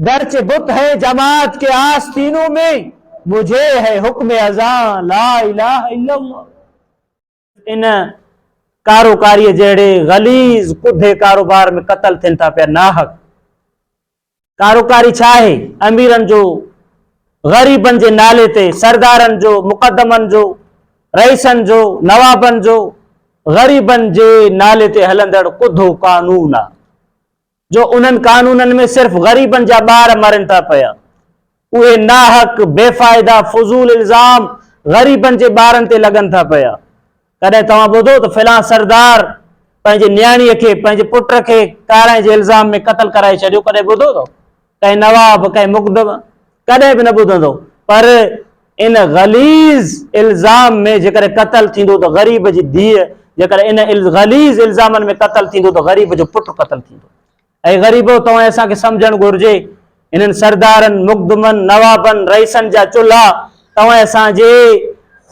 گرچه بت هين جماعت ڪي آستينون مين مجهي هي حڪم ازان لا اله الا الله. ان ڪاروڪاريء جهڙي غليظ ڪوڌي ڪاروبار ۾ قتل ٿين ٿا پيا ناحق. ڪاروڪاري ڇا آهي؟ اميرن جو، غريبن جي نالي تي سردارن جو، مقدمن جو، رئيسن جو، نوابن جو، غريبن جي نالي تي هلندڙ ڪوڌو قانون آ. جو انهن قانونن ۾ صرف غريبن جا ٻار مرن ٿا پيا. اهي ناحق، بي فائده، فضول الزام غريبن جي ٻارن تي لڳن ٿا پيا. ڪڏهن توهان ٻڌو ته فلان سردار پنهنجي نياڻيء کي، پنهنجي پٽ کي ڪارائڻ جي الزام ۾ قتل ڪرائي ڇڏيو، ڪڏهن ٻڌو اٿو؟ ڪنهن نواب، ڪنهن مقدم ڪڏهن به نه ٻڌندو، پر ان غليظ الزام ۾ جيڪڏهن قتل ٿيندو ته غريب جي ڌيء، جيڪڏهن ان غليظ الزامن ۾ قتل ٿيندو ته غريب جو پٽ قتل ٿيندو. اي غريبو! توهين اسان کي سمجهڻ گهرجي. هنن سردارن، مقدمن، نوابن، رئيسن جا چلها توهين اسان جي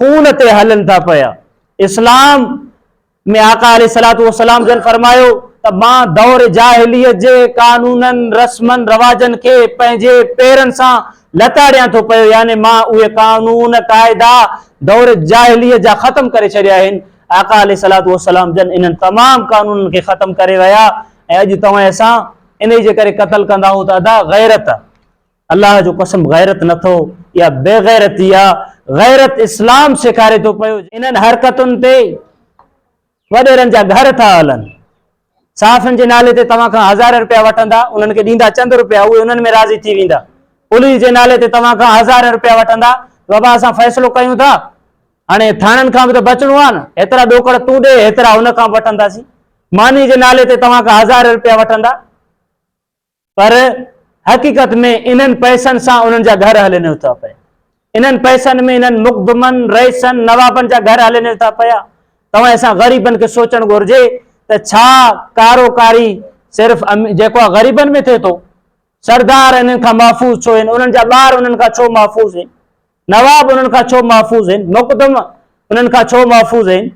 خون تي هلن ٿا پيا. اسلام ۾ آقا عليه الصلوة والسلام جن فرمايو ته مان دور جاهليت جي قانونن، رسمن، رواجن کي پنهنجي پيرن سان لتاڙيان ٿو پيو يعني مان اهي قانون، قاعدا دور جاهليت جا ختم ڪري ڇڏيا آهن. آقا عليه الصلوة والسلام جن انهن تمام قانونن کي ختم ڪري ويا ۽ اڄ توهين اسان انهي جي ڪري قتل ڪندائون ته ادا غيرت. الله جو قسم غيرت نه اٿو اها بيغيرتي آ غيرت اسلام سيکاري ٿو پيو. انهن حرڪتن تي وڏيرن جا گهر ٿا هلن صحافين جي نالي تي توهان کان هزار رپيا وٺندا انهن کي ڏيندا چند رپيا اهي انهن ۾ راضي ٿي ويندا پوليس جي نالي تي توهان کان هزار رپيا وٺندا بابا اسان فيصلو ڪيون ٿا هاڻي ٿاڻن کان به ته بچڻو آ نه هيترا ڏوڪڙ تون ڏي هيترا ان کان وٺنداسين ماني جي نالي تي توهان کان هزار رپيا وٺندا پر حقيقت ۾ انهن پئسن سان انهن جا گهر هلي نه ٿا پئن. انهن پئسن ۾ انهن مقدمن، رئيسن، نوابن جا گهر هلي نه ٿا پيا. توهان اسان غريبن کي سوچڻ گهرجي ته ڇا ڪارو ڪاري صرف جيڪو آهي غريبن ۾ ٿئي ٿو؟ سردار انهن کان محفوظ ڇو آهن؟ انهن جا ٻار انهن کان ڇو محفوظ آهن؟ نواب انهن کان ڇو محفوظ آهن؟ مقدم انهن کان ڇو محفوظ آهن؟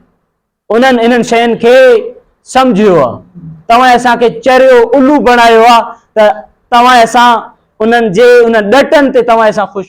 انهن انهن شين کي سمجهيو آ. توهين اسان کي چريو الو بڻايو آ ته توهين اسان انهن جي ان ڏٽن تي توهين اسان خوش.